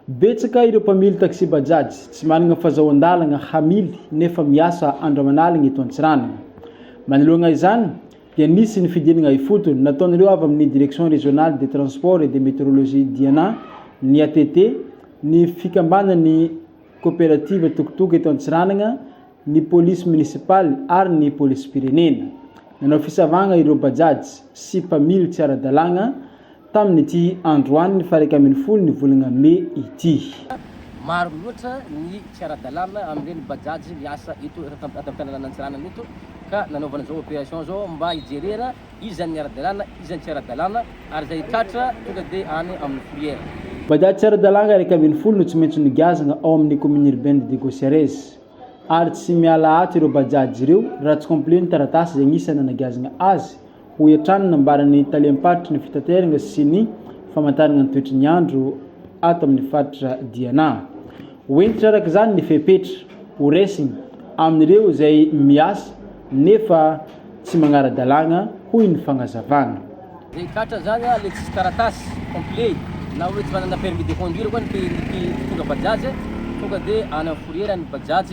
Betsaka ireo mpamily taxi Bajaj tsy manana fazahoan-dalana hamily nefa miasa andro aman'alina eto Antsiranana. Manoloana izany dia nisy ny fidinana ifotony nataon'ireo avy amin'ny Direction Régionale des Transports et de Météorologie Diana ny ATT, ny fikambanan'ny Koperativa Tokotoka eto Antsiranana ny polisy monisipaly ary ny polisim-pirenena. Nanao fisavagna ireo Bajaj sy mpamily tsy ara-dalàgna tamin'ity androany faha iraika ambin'ny folo ny volagna mey ity. Maro loatra ny tsy ara-dalàna amin'ireny Bajaj miasa eto an-tanànan'i Antsiranana eto ka nanaovana izao opération izao mba hijerena iza ny ara-dalàna, iza ny tsy ara-dalàna ary izay tratra tonga dia any amin'ny fourrière. Bajaj tsy ara-dalàgna iraika ambin'ny folo no tsy maintsy nogiazagna ao amin'ny commune urbaine de Gosiarez. ary tsy miala ato ireo Bajaj ireo raha tsy complet ny taratasy izay anisany nanagazana azy, hoy hatrany ny nambaran'ny talem-paritry ny fitaterana sy ny famantarana ny toetry ny andro ato amin'ny faritra Diana. Ho hentitra araka izany ny fepetra horaisina amin'ireo izay miasa nefa Tsy magnara-dalàgna hoy ny fagnazavàna. Zay tratra zany le tsisy taratasy complet na oe tsy manana permis de conduire koa ny mpitondra bajaj tonga de any am fourrière ny bajaj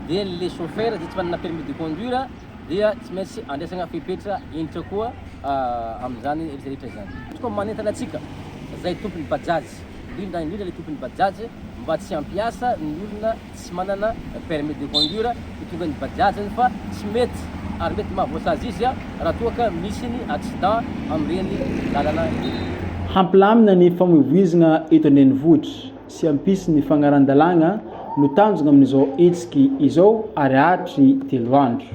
de le chauffeur zay tsy manana permis de conduire dia tsy maintsy andraisagna fepetra indritra koa amizany retraretra zany. Izy koa manentana atsika zay tompony bajaj indrindra indrindra le tompony bajaj mba tsy ampiasa ny olona tsy manana permis de conduire hitondra ny bajajiny fa tsy mety ary mety mahavoasazy izy raha toa ka misy ny accident amin'ireny lalana ireny. Hampilamina ny famoivoizina eto an-drenivohitra sy hampisy ny fagnaran-dalàgna no tanjogna amin'izao hetsiky izao ary hatry telo andro.